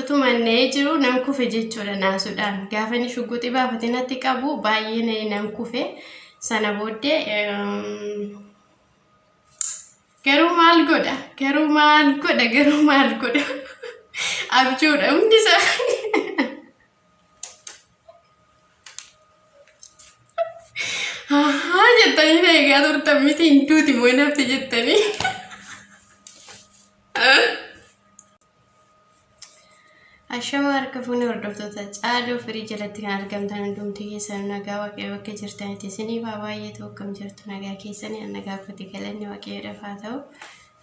Utuma na'ee jiru nan kufe jechuudha naasuudhaan. Gaafa inni shugguxii baafatee natti qabu baay'ee na'ee nan kufe. Sana booddee garuu maal godha? Garuu maal godha? Garuu maal godha? Abjuudha hundi isaa. Ahaa jettanii na eegaa turtan miti hin duuti moo hin hafte jettanii. Ashama harka fuunee hordoftoota caaloo firii jalatti kan argamtan hundumti keessan nagaa waaqayyo bakka jirtanitti isiniif haa baay'eetu akkam jirtu nagaa keessanii nagaa kooti galanni waaqayyoodhaaf haa ta'u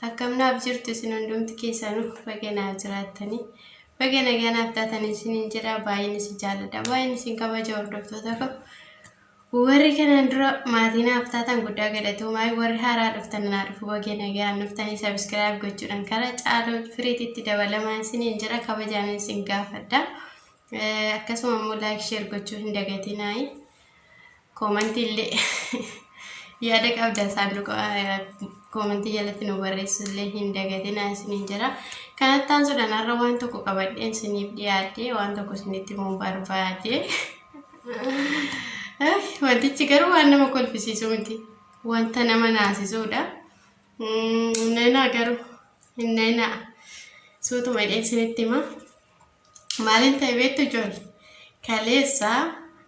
akkam naaf jirtu isin hundumti keessanuu baga naaf jiraattanii baga nagaa naaf taatan isiniin jedha baay'een isin jaalladha baay'een isin kabaja hordoftoota koo Warri kanaan dura maatii naaf taatan guddaa galatoomaa warri haaraa dhuftan naa dhufu baga nagaan dhuftanii sabiskiraayib gochuudhaan kara caaloo firiititti dabalamaa isiniin jedha kabajaan isin gaafadha. Eh, Akkasuma immoo laayik sheer gochuu hin dagatinaayii. Koomantii illee yaada qabdan saanduqa eh, koomantii jalatti nu barreessu illee hin dagatinaa isiniin jedha. Kanatti aansuudhaan har'a waan tokko qabadheen isiniif dhiyaadhe waan tokko isinitti himuu barbaade. Wantichi garuu waan nama kolfisiisu miti. Wanta nama naasisuudha. Neenaa garuu hin neenaa. Suutuma dheessinitti hima. Maaliin ta'e beektu ijoollee? Kaleessa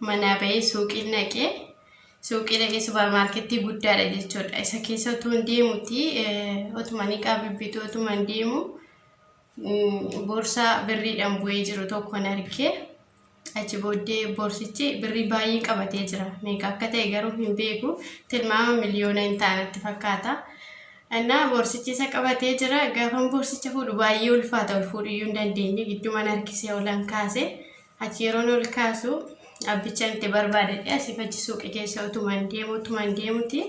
manaa bahee suuqii naqee suuqii dhaqee suuparmaarketii guddaadha jechuudha. Isa keessa utuu hin deemuti otuma ni qaabibbitu otuma hin deemu boorsaa birriidhaan bu'ee jiru tokko hin argee. Achi booddee boorsichi birrii baay'ee qabatee jira. Meeqa akka ta'e garuu hin beeku. Tilmaama miliyoona hin taanatti fakkaata. Innaa boorsichi isa qabatee jira. Gaafan boorsicha fuudhu baay'ee ulfaata. Ol fuudhuyyuu hin dandeenye. Giddumaan harkisee olan kaase. Achi yeroon ol kaasu abbicha itti barbaadadhe asii fachi suuqii keessa utumaan deemu utumaan deemuti.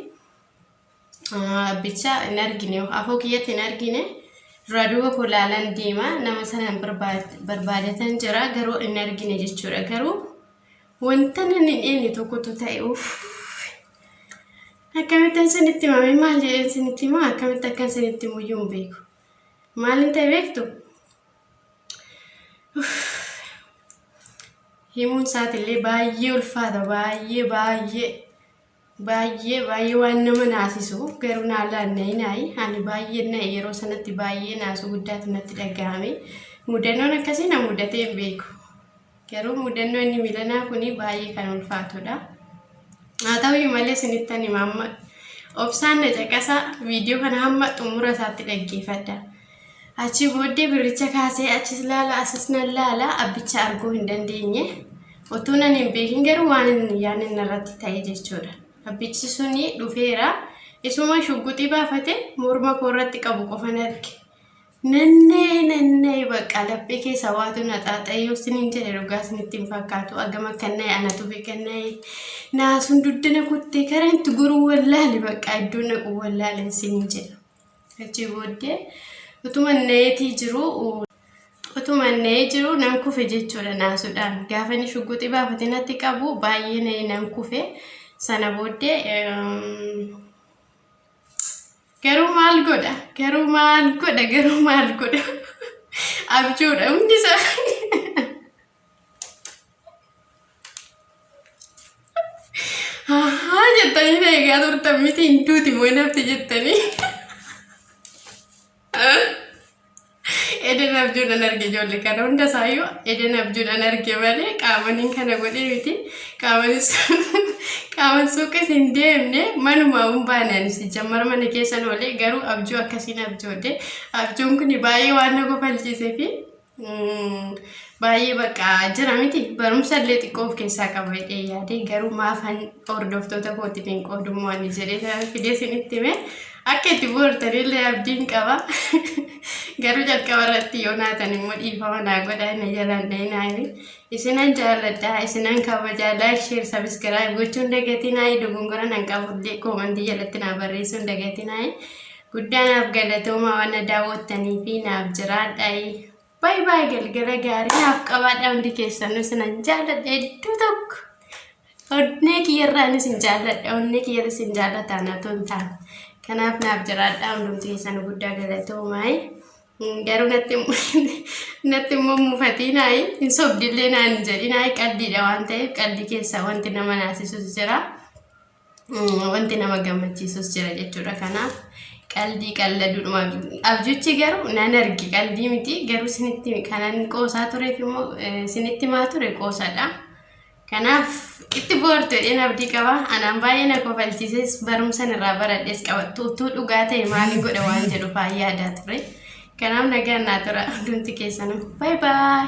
Bicha hin argine afoo kiyyatti hin argine duraa duuba koo laalan deema nama sanaan barbaadatan jira garuu hin argine jechuudha garuu wanta nan hin eenne tokkotu ta'e uuf akkamittan sanitti himame maal jedheen sinitti himaa akkamitti akkan sinitti muyyuu hin beeku maalin ta'e beektu himuun isaatiillee baay'ee ulfaata baay'ee baay'ee Baay'ee baay'ee waan nama naasisu garuu naa laanna'ee naayi ani baay'een na'e yeroo sanatti baay'ee naasuu guddaatu natti dhaga'ame mudannoon akkasii na mudatee hin beeku garuu mudannoo inni milanaa kun baay'ee kan ulfaatudha haa ta'uyyuu malee sinittan hima amma obsaan na caqasa viidiyoo kana hamma xumura isaatti dhaggeeffadha. Achii booddee birricha kaasee achis laala asis nan laala abbicha arguu hin dandeenye. Utuu nan hin beekin garuu waan inni yaadni inni irratti ta'e jechuudha. Abbichi suni dhufeera. Isuma shugguxii baafate morma koo irratti qabu qofan arge. Nanna'ee nanna'ee bakka laphee keessa waatu na xaaxa'ee yoo siniin jedhe dhugaa sinitti hin fakkaatu. Agam akka na'e anatu beeka na'e. Naasuun duddana kuttee karaa itti goruu wallaale bakka iddoon dhaqu wallaale siniin jedha. Achii booddee utuma na'eetii jiru utuma na'ee jiru nan kufe jechuudha naasuudhaan. Gaafa inni shugguxii baafate natti qabu baay'ee na'ee nan kufe. Sana booddee garuu maal godha garuu maal godha garuu maal godha abjuudha hundi isaa. Ahaa jettanii na eegaa turtan miti hin duuti moo hin hafti jettanii. Eden abjuudhaan arge ijoollee kana hunda isaayyuu Eden abjuudhaan arge malee qaamaniin kana godhee miti qaamanis qaaman suuqis hin deemne manuma hin baanaan si jammara mana keessan oolee garuu abjuu akkasiin abjoodhe abjuun kun baay'ee waan na kofalchiisee fi Baay'ee bakka jira miti barumsa illee xiqqoo of keessaa qaba jedhee yaade garuu maafan hordoftoota kootiif hin qoodummoo ani jedhee fidee isinitti hime akka itti boortan illee abdiin qaba garuu jalqaba irratti yoo naatan immoo dhiifama naa godhaa na jalaan dhayinaa himi isinan jaalladha isinan kabajaa laayik sheer sabiskiraayib gochuun dagatinaa dogongora nan qabullee koomantii jalatti naa barreessuun dagatinaa Guddaa naaf galatoomaa waan na daawwattanii fi naaf jiraadhaayi. Baay baay galgala gaarii naaf qabaadha hundi keessanuu sinan jaalladha hedduu tokko. Onnee kiyyarraan isin jaalladha onnee kiyyarra isin jaalladha na tontaan. Kanaaf naaf jiraadha hundumti keessanuu guddaa galatoomaay. Garuu natti natti immoo muufatiinaayi hin sobdillee naan jedhinaayi qaldiidha waan ta'eef qaldi keessaa wanti nama naasisus jira. wanti nama gammachiisus jira jechuudha kanaaf qaldii qalladuudhuma abjuchi garuu nan arge qaldii miti garuu sinitti kanan qoosaa tureef immoo sinitti maa ture qoosaadha kanaaf itti boortu jedheen abdii qaba anaan baay'ee na kofalchiises barumsan irraa baradhes qabattu utuu dhugaa ta'e maalii godha waan jedhu baay'ee yaadaa ture kanaaf nagaan naa tura hundumti keessanuu baay baay